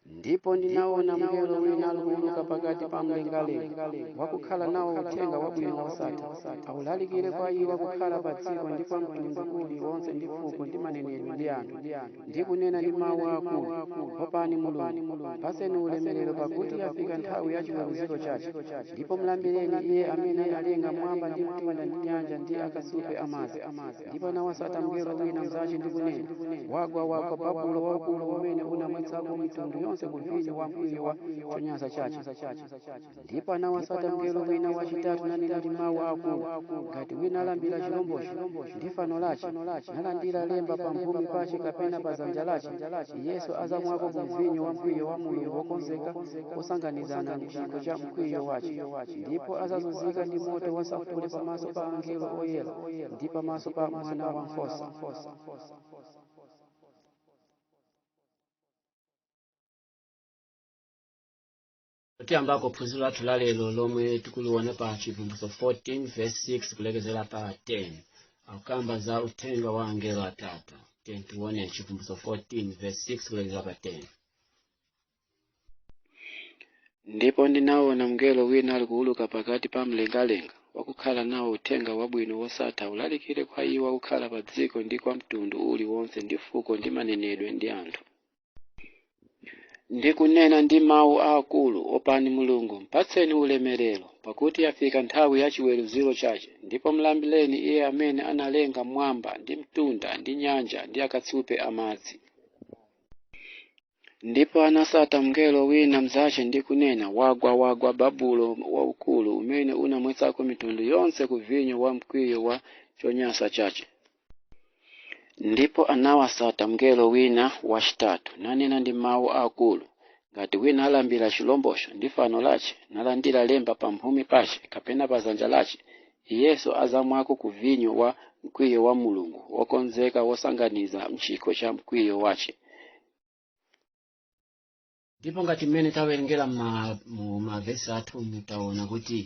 ndipo ndinaona mngelo wina alikuuluka pakati pa mlengalenga wakukhala nawo uthenga wabwino wosatha aulalikire kwa iwo akukhala pa dziko ndi kwa mtundu uliwonse ndi fuko ndi manenedwe ndi anthu ndi kunena ndi mawu akulu opani mulungu mpaseni ulemerero pakuti yafika nthawi ya chiweruziro chake ndipo mlambireni iye amene analenga mwamba ndi mtunda ndi nyanja ndi akasupe amadzi ndipo anawasata mngelo wina mnzache ndi kunena wagwa wagwa babulo waukulu umene unamwetsako mitundu yonse ku vinyo wa mkwiyo wa chonyansa chache ndipo anawasata mngelo wina wachitatu nanena ndi mawu akulu ngati wina alambira chilombocho ndi fano lache nalandira lemba pa mphumi pache kapena pa zanja lache iyenso azamwako mu vinyo wa mkwiyo wa mulungu wokonzeka wosanganizana mchikho cha mkwiyo wache ndipo azazunzika ndi moto wasafule pamaso pa angelo oyera ndi pamaso pa mwana wa nkhosa tiyambako phunziro lathu la lero lomwe tikuliona pa chivumbulutso 14 verse 6 kulekezera pa 10 akukamba za uthenga wa angelo atatu tiye tione chivumbulutso 14 verse 6 kulekezera pa 10 ndipo ndinaona mngelo wina ali kuuluka pakati pa mlengalenga wakukhala nawo uthenga wabwino wosatha ulalikire kwa iwo akukhala pa dziko ndi kwa mtundu uliwonse ndi fuko ndi manenedwe ndi anthu ndi kunena ndi mawu aakulu opani mulungu mpatseni ulemerero pakuti yafika nthawi ya chiweruziro chache ndipo mlambireni iye amene analenga mwamba ndi mtunda ndi nyanja ndi akatsupe amadzi ndipo anasata mngelo wina mnzache ndi kunena wagwa wagwa babulo waukulu umene unamwetsako mitundu yonse ku vinyo wa mkwiyo wa chonyansa chache Ndipo anawasata mngelo wina wacitatu, nanena ndi mau akuru, Ngati wina alambira ciromboco, ndi fano lace, nalandira lemba pamphumi pace, kapena pa dzanja lace, iyenso adzamwako ku vinyo wa mkwiyo wa Mulungu, wokonzeka wosanganiza m'cikho ca mkwiyo wace. ndipo ngati mmene tawerengera ma- mu mavesi athu mutaona kuti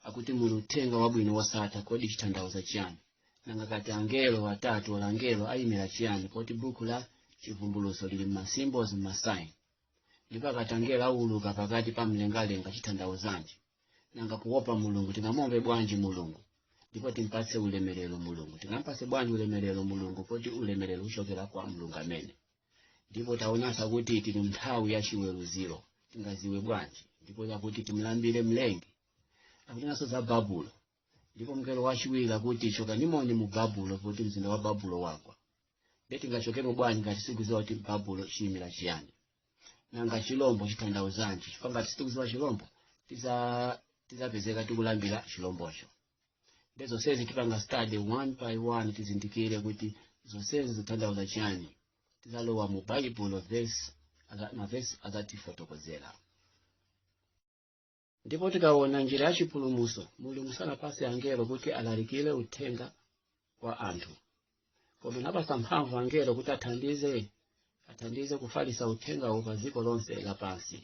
akuti muli uthenga wabwino wosatha kodi chitanthauza chiyani nanga akati angelo atatu or angelo ayimira chiyani poti buku la chivumbuluso lili mmasymbols mmasaini ndipo akati angelo awuluka pakati pa mlengalenga chitanthauzanji nanga kuopa mulungu tingamuope bwanji mulungu ndipo timpatse ulemerero mulungu tingampatse bwanji ulemerero mulungu poti ulemerero uchokera kwa mulungu amene ndipo taonanso kuti tili mnthawi ya chiweruziro tingaziwe bwanji ndipo yakuti timlambire mlengi akunenanso za babulo ndipo mngelo wachiwiri akuti chokanimoni mu babulo poti mzinda wa babulo wagwa nde tingachokemo bwanji ngati sitikuziwa kuti babulo chiyimira chiyani nanga chilombo chitanthauzanji chifukwa ngati sitikuziwa chilombo tiza- tizapezeka tikulambira chilombocho nde zonsezi tipanga study one by one tizindikire kuti zonsezi zikutanthauza chiyani tizalowa mu baibulo vesi aza- mavesi azatifotokozera ndipo tikaona njira ya chipulumuso mulungu sanapase angelo kuti alalikire uthenga kwa anthu koma anapasa mphamvu angelo kuti athandize athandize kufalisa uthengawo pa dziko lonse lapansi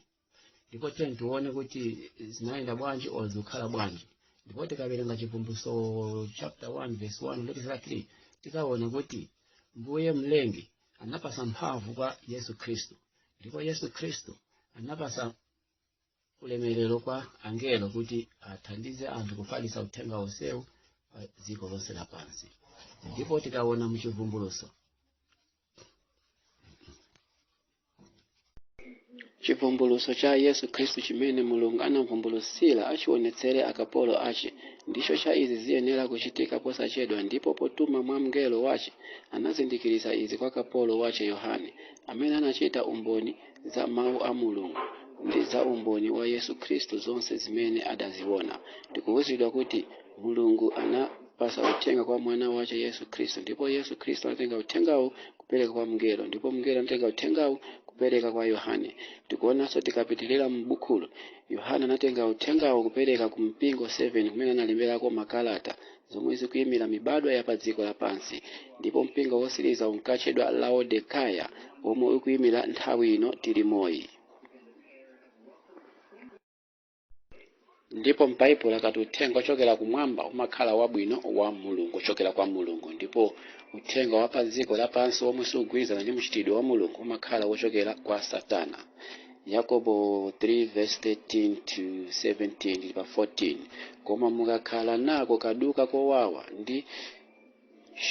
ndipo tiyeni tione kuti zinayenda bwanji or zikukhala bwanji ndipo tikawerenga chivumbulutso chapter 1 verse 1 kulekeza 3 tikaona kuti mbuye mlengi anapasa mphamvu kwa yesu khristu ndipo yesu khristu anapasa ulemerero kwa angelo kuti athandize anthu kufalisa uthenga wonsewu pa dziko lonse lapansi ndipo tikaona muchivumbuluso chivumbuluso cha yesu khristu chimene mulungu anamvumbulutsira achionetsere akapolo ache ndicho cha izi ziyenera kuchitika posachedwa ndipo potuma mwa mngelo wache anazindikiritsa izi kwa kapolo wache yohane amene anachita umboni za mawu a mulungu ndi za umboni wa yesu khristu zonse zimene adaziona tikuwuzidwa kuti mulungu anapasa uthenga kwa mwana wache yesu khristu ndipo yesu khristu anatenga uthengawo kupereka kwa mngelo ndipo mngelo anatenga uthengawo kupereka kwa yohane tikuonanso tikapitirira m'bukhulo yohane anatenga uthengawo kupereka ku mipingo 7 kumene analemberako makalata zomwe zikuyimira mibadwa ya pa dziko lapansi ndipo mpingo wosiriza unkatchedwa laodekaya womwe ukuyimira nthawi ino tilimoyi ndipo m'baibulo akati uthenga ochokera kumwamba umakhala wabwino wa mulungu ochokera kwa mulungu ndipo uthenga wa pa dziko lapansi womwe sugwirizana ndi mchitidwe wa mulungu umakhala wochokera kwa satana yakobo 3 verse 13 to 17 pa 14 koma mukakhala nako kaduka kowawa ndi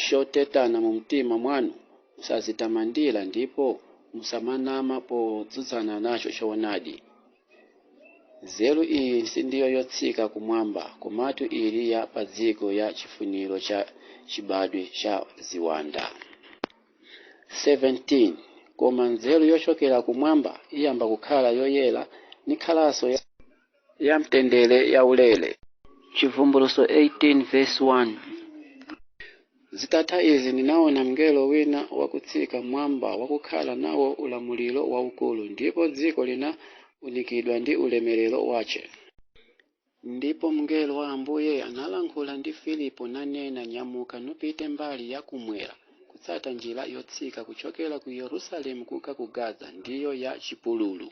chotetana mu mtima mwanu musazitamandira ndipo musamanama potsutsana nacho choonadi nzeru iyi sindiyo yotsika kumwamba komatu ili ya pa dziko ya chifuniro cha chibadwe cha ziwanda 17 koma nzeru yochokera kumwamba iyamba kukhala yoyera nikhalanso ya, ya mtendere yaulere Chivumbulutso 18 verse 1 zitatha izi ndinaona mngelo wina wakutsika mwamba wakukhala nawo ulamuliro waukulu ndipo dziko linaunikidwa ndi ulemerero wace Ndipo mngelo wa Ambuye analankhula ndi Filipo, nanena, Nyamuka, nupite mbali ya kumwera, kutsata njira yotsika kuchokera ku Yerusalemu kunka ku Gaza, ndiyo ya chipululu.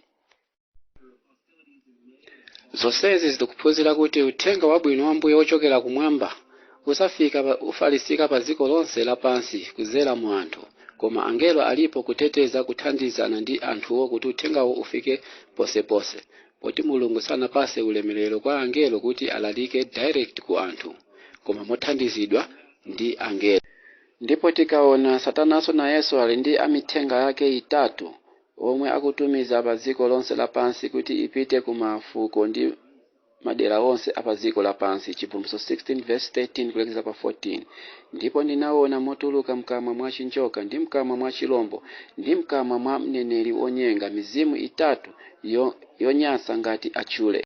Zonsezi tikuphunzira kuti uthenga wabwino wa Ambuye wochokera kumwamba usafika pa, ufalisika pa dziko lonse lapansi kudzera mu anthu, koma angelo alipo kuteteza, kuthandizana ndi anthuwo kuti uthengawo ufike ponseponse. Poti Mulungu sanapatse ulemelero kwa angelo kuti alalike direct ku anthu koma mothandizidwa ndi angelo. Ndipo tikaona Satananso nayenso ali ndi amithenga ake itatu omwe akutumiza pa dziko lonse lapansi kuti ipite ku ma fuko ndi Madera onse a pa dziko lapansi, Chibvumbulutso 16 vs 13 kulekeza pa 14, Ndipo ndinaona motuluka mkamwa mwa chinjoka, ndi mkamwa mwa chilombo, ndi mkamwa mwa mneneri wonyenga, mizimu itatu, yonyansa ngati achule.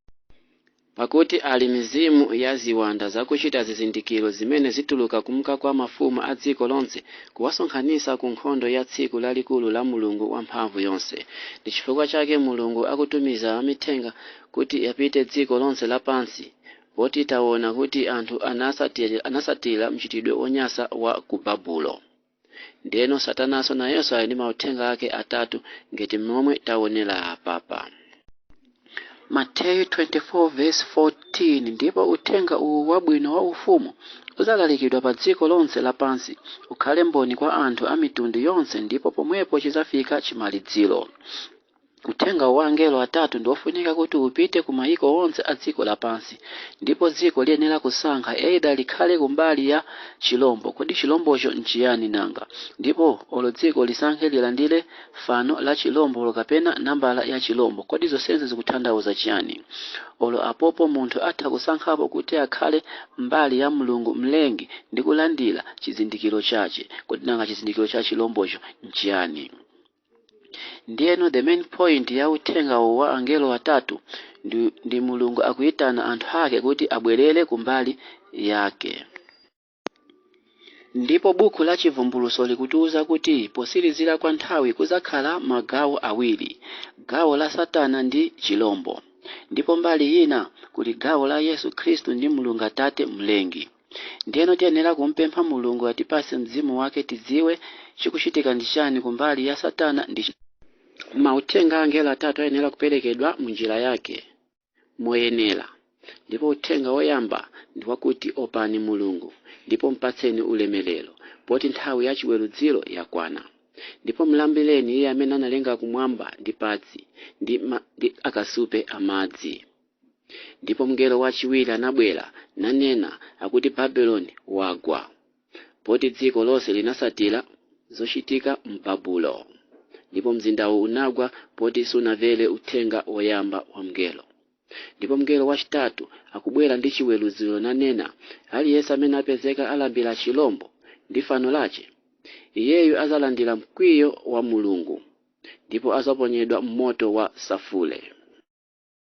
Pakuti ali mizimu ya ziwanda zakuchita zizindikiro zimene zituluka kumka kwa mafumu a dziko lonse kuwasonkhanitsa ku nkhondo ya tsiku lalikulu la Mulungu Wamphamvu yonse. Ndi chifukwa chake Mulungu akutumiza amithenga kuti apite dziko lonse lapansi, poti taona kuti anthu anatsatira mchitidwe wonyansa wa ku Babulo. Ndiyeno Satananso nayenso ali ndi mauthenga ake atatu ngati mmomwe taonera apapa. Mateyu 24 vesi 14 ndipo uthenga uwu wabwino wa ufumu udzalalikidwa pa dziko lonse lapansi, ukhale mboni kwa anthu a mitundu yonse ndipo pomwepo chidzafika chimaliziro. Uthenga wa angelo atatu ndi wofunika kuti upite ku mayiko onse a dziko lapansi. Ndipo dziko liyenera kusankha, either likhale ku mbali ya chilombo, kodi chilombocho n'chiyani nanga? ndipo olo dziko lisankhe lilandire fano la chilombo kapena nambala ya chilombo, kodi zonsezi zikutanthauza chiyani? Olo apopo munthu atha kusankhapo kuti akhale mbali ya M'lungu M'lengi ndi kulandira chizindikiro chache, kodi nanga chizindikiro cha chilombocho n'chiyani? Ndiyeno the main point ya uthenga uwu wa angelo atatu ndi, ndi Mulungu akuyitana anthu ake kuti abwerere kumbali yake. Ndipo buku la Chivumbulutso likutiuza kuti potsirizira kwa nthawi kudzakhala magawo awiri, gawo la Satana ndi chilombo, ndipo mbali ina kuli gawo la Yesu Khristu ndi Mulungu Atate Mlengi. Ndiyeno tiyenera kumpempha Mulungu atipatse Mzimu Wake tidziwe chikuchitika ndi chani kumbali ya Satana ndi. Mauthenga a angelo atatu ayenera kuperekedwa mu njira yake, moyenera. Ndipo uthenga woyamba ndi wakuti opani Mulungu ndipo mpatseni ulemelero, poti nthawi ya chiwerudziro yakwana. Ndipo mlambireni Iye amene analenga kumwamba ndi pansi ndi akasupe a madzi. Ndipo mngelo wachiwiri anabwera, nanena, akuti, Babiloni wagwa. Poti dziko lonse linasatira zochitika m'Babulo. Ndipo mzindawu unagwa poti sunamvere uthenga woyamba wa mngelo. Ndipo mngelo wachitatu akubwera ndi chiweruziro nanena, Aliyense amene apezeka alambira chilombo ndi fano lache, iyeyu azalandira mkwiyo wa Mulungu, ndipo azaponyedwa m'moto wa safule.